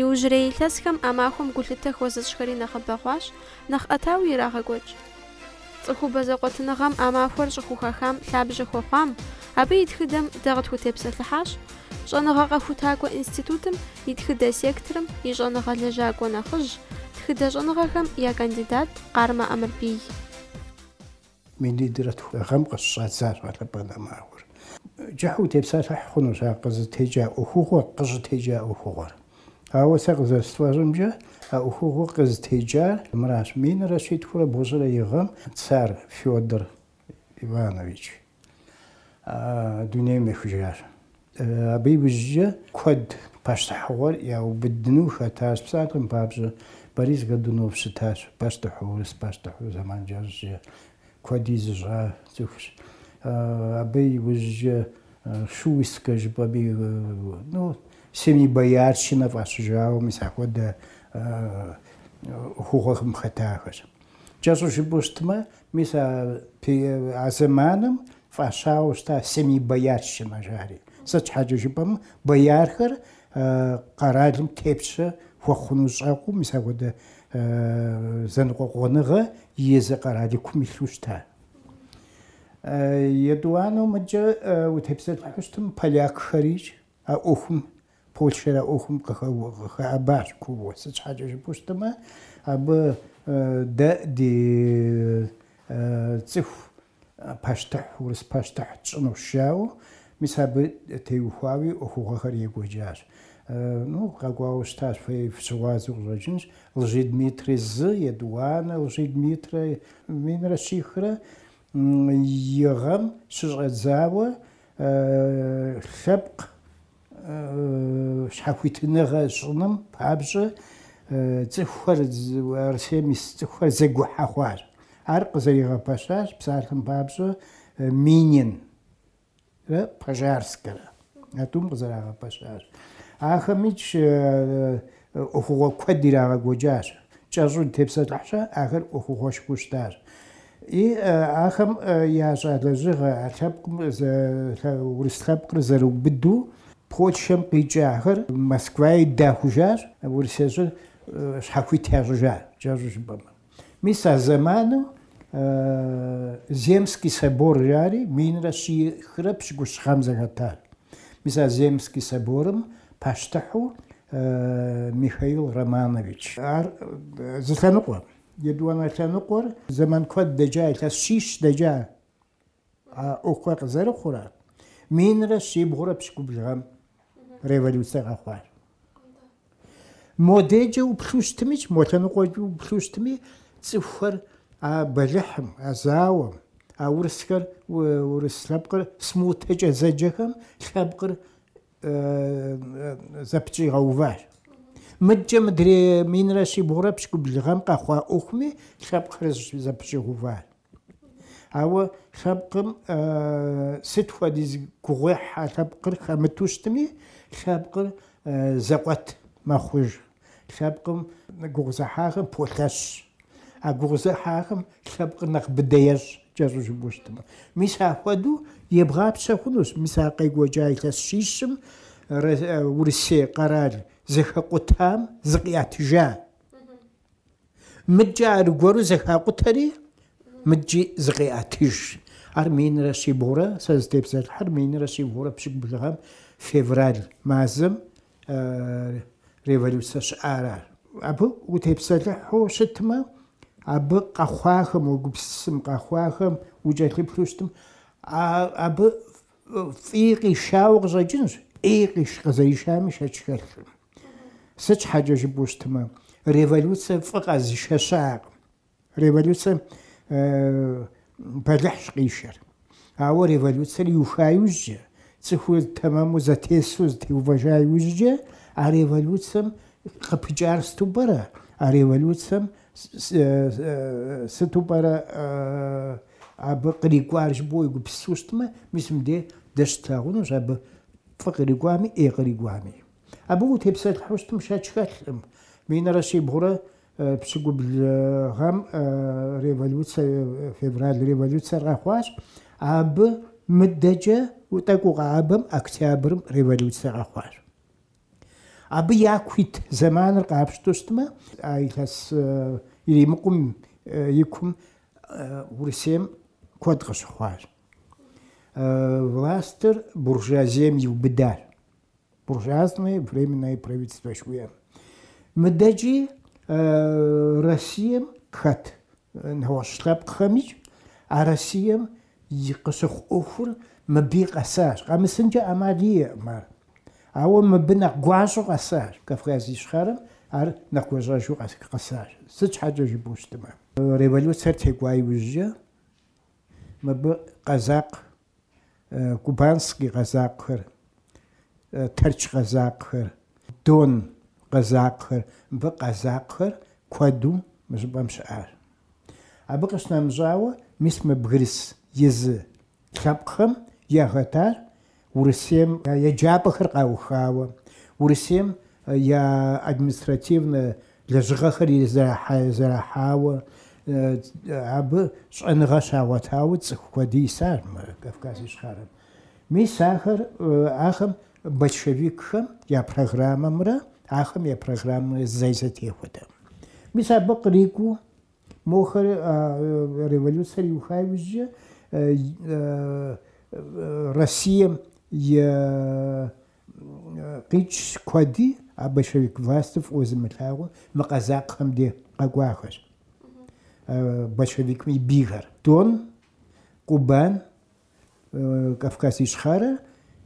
Иужьрей илъэсхэм а махуэм гулъытэ хуэзыщӏхэри нэхъыбэ хъуащ, нэхъ ӏэтауи ирагъэкӏуэкӏ. Цӏыхубэ зэкъуэтыныгъэм а махуэр щӏыхухахам лъабжьэ хуэхъуам, абы и тхыдэм дэ къытхутепсэлъыхьащ Щӏэныгъэ къэхутакӏуэ институтым и тхыдэ секторым и щӏэныгъэ лэжьакӏуэ нэхъыжь, тхыдэ щӏэныгъэхэм я кандидат Къармэ Ӏэмырбий. Минитӏрэ тху гъэм къыщыщӏадзащ ягъэлъэпӏэн а махуэр. Кӏыхьу утепсэлъыхь хъунущ а къызытекӏа ӏуэхугъуэр, къыщӏытекӏа ӏуэхугъуэр. Ауэ сэ къызэрысфӏэщӏымкӏэ, а ӏуэхугъуэр къызытекӏар мыращ, минрэ щитхурэ бгъущӏрэ и гъэм Цар Федор Иванович дунейм ехыжащ. Абы иужькӏэ куэд пащтыхьыгъуэр яубыдыну хэтащ. Псалъэм папщӏэ, Борис Годунов щытащ пащтыхьу, урыс пащтыхьу, зэман кӏэщӏкӏэ куэди зыщӏа цӏыхущ. Абы иужькӏэ Шуйскэ жыпӏэми, ну, семибоярщинэ фӏащыжауэ, мис ахуэдэ ӏуэхугъуэхэм хэтахэщ. Кӏэщӏу жыпӏэу щытмэ, мис а зэманым Фӏащауэ щыта семибоярщинэ жари. Сыт щхьэкӏэ жыпӏэмэ, боярхэр къэралым тепщэ хуэхъуну щӏэкъуу, мис ахуэдэ зэныкъуэкъуэныгъэ езы къэралыкум илъу щыта. Етӏуанэу мыдкӏэ утепсэлъыхьу щытым полякхэрикӏ а ӏуэхум, Польшэр а ӏуэхум къыхэӏэбащ кууэ. Сыт щхьэкӏэ жыпӏэу щытымэ, абы дэ ди цӏыху пащтыхь, урыс пащтыхь тщӏынущ жаӏэу, мис абы теухуауи ӏуэхугъуэхэр екӏуэкӏащ. Ну, къэкӏуауэ щытащ, фэ фыщыгъуазэу къыщӏэкӏынщ, Лжедмитрий зы, етӏуанэ Лжедмитрий, минрэ щихрэ и гъэм щыщӏэдзауэ лъэпкъ щхьэхуитыныгъэ щӏыным папщӏэ цӏыхухэр, Арысейм ис цӏыхухэр зэгухьэ хъуар. Ар къызэригъэпэщащ псалъэм папщӏэ Мининрэ Пожарскэрэ а тӏум къызэрагъэпэщащ. Ахэмикӏ ӏуэхугъуэ куэд ирагъэкӏуэкӏащ, кӏэщӏу утепсэлъыхь щхьэ, ахэр ӏуэхугъуэшхуэу щытащ. И ахэм ящӏа лэжьыгъэ, а лъэпкъым, урыс лъэпкъыр зэрыубыду Польшэм къикӏахэр Москваи дахужащ, Урысей щӏыр щхьэхуит ящӏыжащ, кӏэщӏу жыпӏэмэ. Мис а зэманым Земский собор жари минрэ щихрэ пщыкӏущ гъэм зэхэтат. Мис а Земский соборым пащтыхьу Михаил Романович. Ар зы лъэныкъуэ. Етӏуанэ лъэныкъуэр зэман куэд дэкӏа, илъэс щищ дэкӏа. А ӏуэхур къызэрыхъурэ минрэ щибгъурэ пщыкӏубл гъэм революцэ къэхъуащ. Модеджэ уплъу щытми, мо лъэныкъуэкӏэ уплъу щытми, цӏыхухэр а бэлыхьым, а зауэм, а урысхэр, урыс лъэпкъыр смутэкӏэ зэджэхэм лъэпкъыр зэпэщӏигъэуващ. Мыдкӏэ мыдрей минрэ щибгъурэ пщыкӏубл гъэм къэхъуа ӏуэхуми лъэпкъхэр зэпэщӏигъэуващ. Ауэ лъэпкъым сыт хуэдиз гугъуехь а лъэпкъыр хэмыту щытми, лъэпкъыр зэкъуэт мэхъуж, лъэпкъым гугъузыхьахэм полъэщ. А гугъузыхьахэм лъэпкъыр нэхъ быдэ ещӏ, кӏэщӏу жыпӏэу щытмэ. Мис ахуэдэу ебгъапщэ хъунущ мис а къекӏуэкӏа илъэс щищым Урысей къэрал зэхэкъутам зыкъиӏэтыжа. Мыдкӏэ аргуэру зэхакъутэри, мыдкӏи зыкъеӏэтыж. Ар минрэ щибгъурэ, сэ зытепсэлъыхьыр минрэ щибгъурэ пщыкӏубл гъэм февраль мазэм революцэ щыӏара. Абы утепсэлъыхьу щытмэ, абы къэхъуахэм, уегупсысым къэхъуахэм укӏэлъыплъу щытым, абы фӏи къишауэ къыщӏэкӏынщ, ӏей къыщӏ, къызэришами шэч хэлъым. Сыт щхьэкӏэ жыпӏэу щытмэ, революцэ фӏы къэзышэ щыӏакъым. Революцэм бэлыхьщ къишэр. Ауэ революцэр иуха иужькӏэ, цӏыхур тэмэму зэтесу зэтеувэжа иужькӏэ, а революцэм къыпыкӏар сыту пӏэрэ? А революцэм сыту пӏэрэ абы кърикӏуар жыпӏэу уегупсысу щытмэ, мис мыдей дэ щытлъагъунущ абы фӏы кърикӏуами, ӏей кърикӏуами. Абы утепсэлъыхьу щытым шэч хэлъым. Минрэ щибгъурэ пщыкӏубл гъэм революцэ, февраль революцэр къэхъуащ. Абы мыдэкӏэ тӏэкӏу къэӏэбэм октябрым революцэ къэхъуащ. Абы яку ит зэманыр къапщту щытмэ, а илъэс иримыкъум и кум Урысейм куэд къыщыхъуащ. Властыр буржуазием иубыдащ. буржуазное временное правительство жыхуиӏэм. Мыдэкӏи Россием хэт нэгъуэщӏ лъэпкъхэми а Россием и къыщыхъу ӏуэхур мыбы къэсащ. Къэмысынкӏэ ӏэмал иӏэкъым ар. Ауэ мыбы нэхъ гуащӏэу къэсащ. Кавказ Ищхъэрэм ар нэхъ гуащӏэжу къэсащ. Сыт щхьэкӏэ жыпӏэу щытмэ, революциер текӏуа иужькӏэ мыбы къэзакъ Кубанский къэзакъхэр, Тэрч къэзакъхэр, Дон къэзакъхэр, мыбы къэзакъхэр куэду мы щӏыпӏэм щыӏащ. Абы къыщынэмыщӏауэ, мис мы бгырыс езы лъэпкъхэм яхэтар Урысейм я еджапӏэхэр къаухауэ, Урысейм я административнэ Лэжьыгъэхэр зэрахьауэ абы щӏэныгъэ щагъуэтауэ цӏыху куэди исащ мы Кавказ Ищхъэрэм. Мис ахэр, ахэм большевикхэм я программэмрэ ахэм я программэмрэ зэи зэтехуэтэкъым. Мис абы кърикӏуэу мохэр революцэр иуха иужькӏэ Россием Къикӏщ куэди а большевик властыр фӏыуэ зымылъагъуу мы къэзакъхэм де къэкӏуахэщ. Большевикым и бийхэр. Дон, Кубан, Кавказ Ищхъэрэ,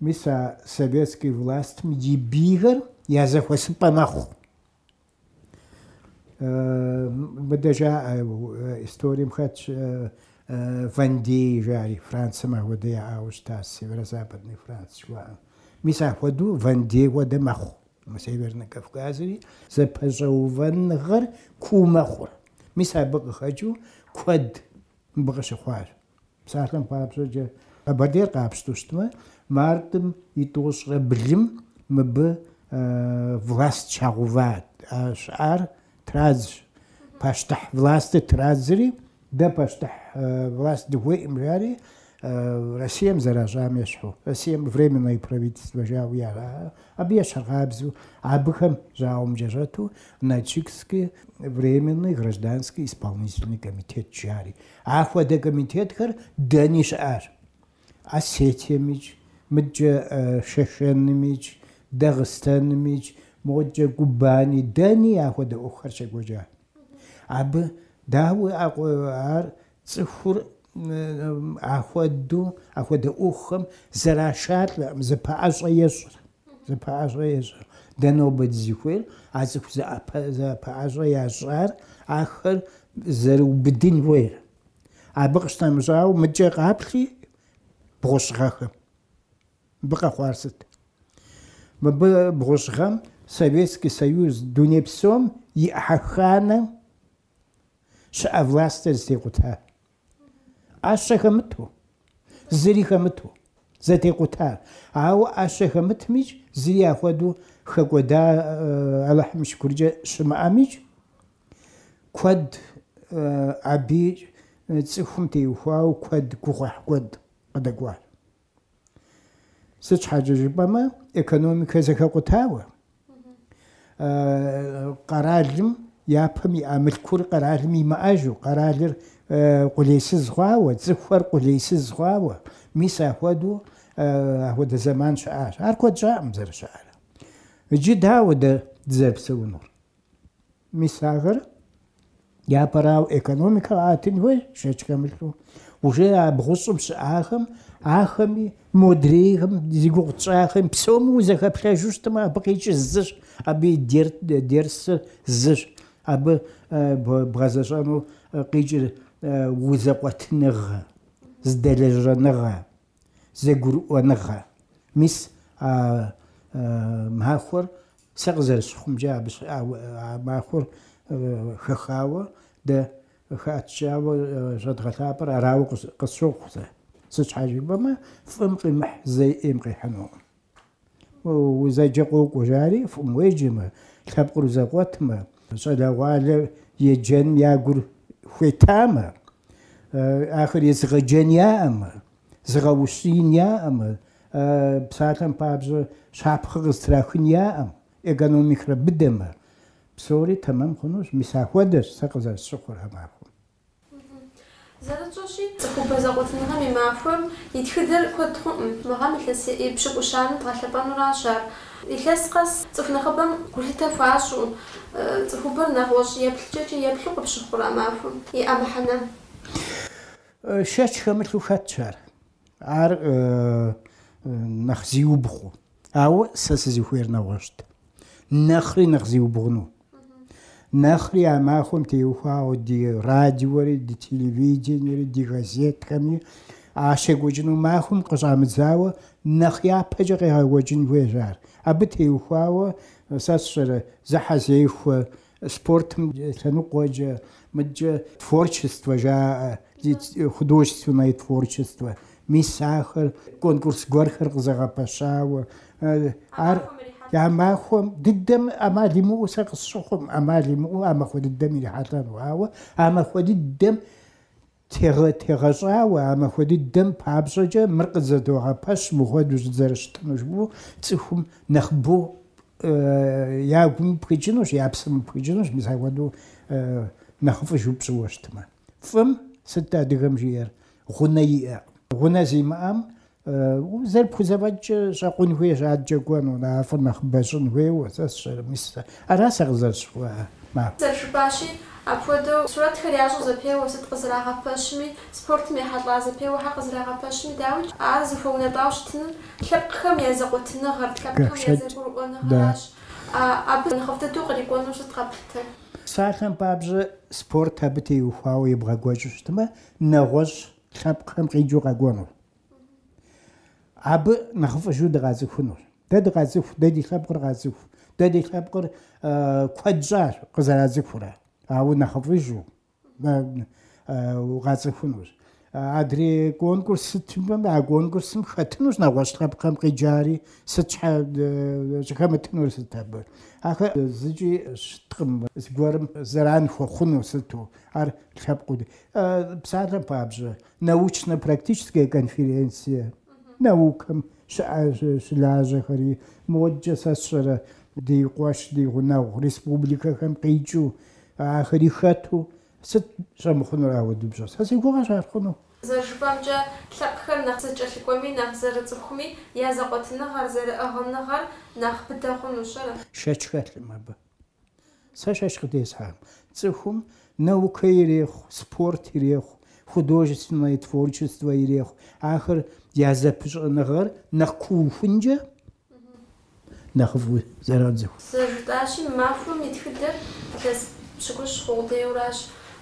мис а советский властым и бийхэр я зэхуэсыпӏэ мэхъу. Мыдэ жаӏэ, историем хэтщ Вандей жари, Францэм ахуэдэ яӏауэ щыта, Северо-Западный Франц жыхуаӏэм. Мис ахуэдэу Вандей хуэдэ мэхъу мы Северный Кавказри, зэпэщӏэувэныгъэр куу мэхъур. Мис абы къыхэкӏыу куэд мыбы къыщыхъуащ. Псалъэм папщӏэкӏэ, Къэбэрдейр къапщтэу щытмэ, мартым и тӏощӏрэ блым мыбы власт щагъэуват, щыӏар традзщ. Пащтыхь властыр традзри, дэ пащтыхь власт дыхуеӏым жари, Россием зэращӏам ещхьу, Россием временное правительство жауэ яӏэ, абы ещхьыркъабзэу, абыхэм жьауэмкӏэ щӏэту Нальчикский временный гражданский исполнительный комитет жари, Ахуэдэ комитетхэр дэни щыӏащ. Осетиемикӏ, мыдкӏэ Шэшэнымикӏ, Дагъыстэнымикӏ, мокӏэ Кубани, дэни ахуэдэ ӏуэхухэр щекӏуэкӏа. Абы дауи ар цӏыхур ахуэдэу ахуэдэ ӏуэхухэм зэрашалӏэӏым, зэпэӏэщӏэ ещӏыр. Зэпэӏэщӏэ ещӏэ. Дэ нобэ дызыхуейр а цӏыху зэпэӏэщӏэ ящӏар ахэр зэрыубыдын хуейр. Абы къыщынэмыщӏауэ, мыкӏэ къаплъи бгъущӏ гъэхэм. Мыбы къэхъуар сыт? Мыбы бгъущӏ гъэм Советский Союз дуней псом и ӏыхьэханэм щыӏэ властыр зэтекъута. ӏэщэ хэмыту, зыри хэмыту зэтекъутар. Ауэ ӏэщэ хэмытмикӏ, зыри ахуэдэу хэкӏуэда Алыхьым и шыкуркӏэ щымыӏэмикӏ, куэд абы цӏыхум теухуауэ куэд гугъуехь куэд къыдэкӏуащ. Сыт щхьэкӏэ жыпӏэмэ, экономикэр зэхэкъутауэ, къэралым япэм иӏа мылъкур къэралым имыӏэжу, къэралыр къулейсыз хъуауэ, цӏыхухэр къулейсыз хъуауэ, мис ахуэдэу ахуэдэ зэман щыӏащ. Ар куэд щӏакъым зэрыщыӏэрэ. Иджы дауэ дэ дызэрыпсэунур? Мис ахэр япэрауэ экономикэ къэӏэтын хуейщ, шэч хэмылъу. Уже а бгъущӏым щыӏахэм, ахэми, модрейхэм, зи гугъу тщӏахэм псоми узэхэплъэжу щытмэ, абы къикӏыр зыщ, абы и дерсыр зыщ, абы бгъэзэщӏэну къикӏыр узэкъуэтыныгъэ, зэдэлэжьэныгъэ. зэгурыӏуэныгъэ. Мис а махуэр, сэ къызэрысщыхъумкӏэ, а махуэр хэхауэ дэ хэӏэтыкӏауэ щӏэдгъэлъапӏэр арауэ къысщохъу сэ. Сыт щхьэ жыпӏэмэ, фӏым къимыхь зэи ӏейм къихьынукъым. Узэджэ къокӏуэ, жари фӏым уеджэмэ, лъэпкъыр узэкъуэтмэ, щӏалэгъуалэр еджэным я гур хуетамэ, ахэр езыгъэджэн яӏэмэ, зыгъэущиин яӏэмэ, псалъэм папщӏэ щапхъэ къызтрахын яӏэм, экономикэри быдэмэ, псори тэмэм хъунущ, мис ахуэдэщ сэ къызэрысщыхъур а махуэм. Зэрытщӏэщи, цӏыхубэ зэкъуэтыныгъэм и махуэм и тхыдэр куэд хъуӏым. Мы гъэм илъэс епщыкӏущанэм дгъэлъэпӏэнуращ ар. Илъэс къэс цӏыху нэхъыбэм гулъытэ хуащӏу, цӏыхубэр нэгъуэщӏ еплъыкӏэкӏи еплъу къыпщыхъурэ а махуэм иӏэ мыхьэнэм. Шэч хэмылъу хэтщ ар. Ар нэхъ зиубгъуу. Ауэ сэ сызыхуейр нэгъуэщӏт. Нэхъри нэхъ зиубгъуну. Нэхъри а махуэм теухуауэ ди радиори, ди телевидениери, ди газетхэми а щекӏуэкӏыну махуэм къыщӏамыдзауэ нэхъ япэкӏэ къегъэкӏуэкӏын хуейщ ар. Абы теухуауэ сэ сщӏэрэ зэхьэзехуэ спортым лъэныкъуэкӏэ, мыдкӏэ творчество жаӏэ, художественное творчествэ Мис ахэр конкурс гуэрхэр къызэгъэпэщауэ, ар а махуэм дыдэм ӏэмал имыӏэу сэ къысщыхъум, ӏэмал имыӏэу а махуэ дыдэм ирихьэлӏэну. Ауэ а махуэ дыдэм тегъэщӏауэ, а махуэ дыдэм папщӏэкӏэ мыр къызэдогъэпэщ, мыхуэдэу щызэрыщытыну жыпӏэу цӏыхум нэхъыбэу я гум пхыкӏынущ, я псэм пхыкӏынущ, мис ахуэдэу нэхъыфӏыжу пщӏыуэ щытмэ. Фӏым сыт адыгэм жиӏэр? гъунэ иӏэ. Гъунэ зимыӏэм зэрыпхузэфӏэкӏкӏэ щӏэкъун хуейщ, адэкӏэ кӏуэну, нэхъыфӏыр нэхъыбэ щӏын хуейуэ, сэ сщӏэрэ. Мис ара сэ къызэрысщыхъуар. Ма. Зэрыжыпӏащи, апхуэдэу сурэтхэр ящӏу зэпеуэ, сыт къызэрагъэпэщми, спортым ехьэлӏа зэпеуэхэр къызэрагъэпэщми, дауикӏ, ар зыхуэунэтӏауэ щытынур лъэпкъхэм я зэкъуэтыныгъэр, лъэпкъхэм я зэгурыӏуэныгъэращ. Абы нэхъыфӏ дыдэу кърикӏуэну сыт къэплъытэр? Псалъэм папщӏэ, спорт абы теухуауэ ебгъэкӏуэкӏыу щытмэ, нэгъуэщӏ лъэпкъхэм къикӏыу къэкӏуэнущ. Абы нэхъыфӏыжу дыкъацӏыхунущ. Дэ дыкъацӏыху, дэ ди лъэпкъыр къацӏыху, дэ ди лъэпкъыр куэд щӏащ къызэрацӏыхурэ, ауэ нэхъыфӏыжу къацӏыхунущ. Адрей конкурс сытмэ, а конкурсым хэтынущ нэгъуэщӏ лъэпкъхэм къикӏари, сыт щхьэ щӏыхэмытынур сыт абы. Ахэр зыкӏи щыткъым, зыгуэрым зэран хуэхъуну сыту, ар лъэпкъыу. Псалъэм папщӏэ, научно-практическая конференция, наукэм щылажьэхэри, модэкӏэ сэ сщӏэрэ ди къуэш, ди гъунэгъу республикэхэм къикӏыу, ахэри хэту, сыт щӏэмыхъунур ауэдубжьэ? Сэ си гугъэщ ар хъуну. Зэрыжыпӏэмкӏэ, лъэпкъхэр нэхъ зэкӏэлъыкӏуэми, нэхъ зэрыцӏыхуми, я зэкъуэтыныгъэр, зэрыӏыгъыныгъэр нэхъ быдэ хъунущ, ара? Шэч хэлъым абы. Сэ шэч къытесхьэм, цӏыхум наукэ ирехъу, спорт ирехъу, художественное творчество ирехъу. Ахэр я зэпыщӏэныгъэр нэхъ куухункӏэ нэхъыфӏу зэроцӏыху. Зэрыжытӏащи, мы махуэм и тхыдэр илъэс пщыкӏущ хъу къудейуэ аращ.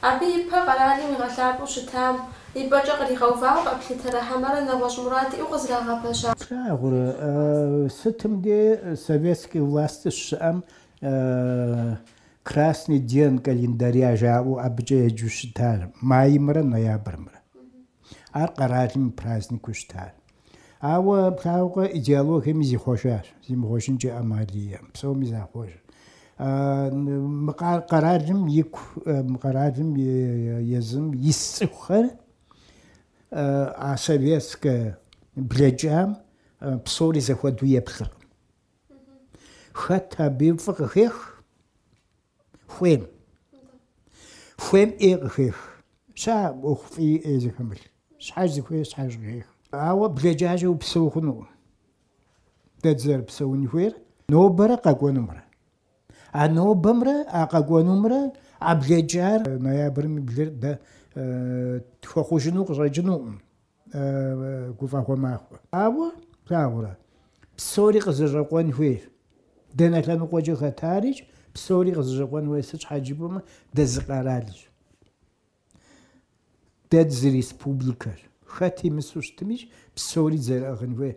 Абы ипэ къэралым игъэлъапӏэу щытам и пӏэкӏэ къригъэувауэ къэплъытэрэ хьэмэрэ нэгъуэщӏ мурад иӏэу къызэрагъэпэща? Плъагъурэ, сытым дей советскэ власть щыщыӏэм Красный день календаря жаӏэу абыкӏэ еджэу щытар маймрэ ноябрымрэ. Ар къэралым и праздникыу щытащ. Ауэ плъагъукъэ, идеологиеми зихъуэжащ, зимыхъуэжынкӏэ ӏэмал иӏэм, псоми захъуэж. Къэралым ику, мы къэралым езым ис цӏыхухэр а советскэ блэкӏам псори зэхуэдэу еплъыркъым. Хэт абы фӏы къыхех хуейм, хуейм ӏей къыхех. Щыӏэкъым фӏи ӏеи зыхэмылъ. Щхьэж зыхуейр щхьэж къыхех. Ауэ блэкӏамкӏэ упсэу хъунукъым. Дэ дызэрыпсэун хуейр нобэрэ къэкӏуэнумрэ. А нобэмрэ а къэкӏуэнумрэ а блэкӏар ноябрым и блэр дэ тхуэхъужыну къыщӏэкӏынукъым. гуфӏэгъуэ махуэ. Ауэ, плъагъурэ, псори къызэщӏэкъуэн хуейщ. Дэнэ лъэныкъуэкӏэ хэтарикӏ, псори къызэщӏэкъуэн хуейщ, сыт щхьэкӏэ жыпӏэмэ, дэ зы къэралщ. Дэ дызы республикэщ. Хэт исми исыу щытымикӏ, псори дызэрыӏыгъын хуейщ.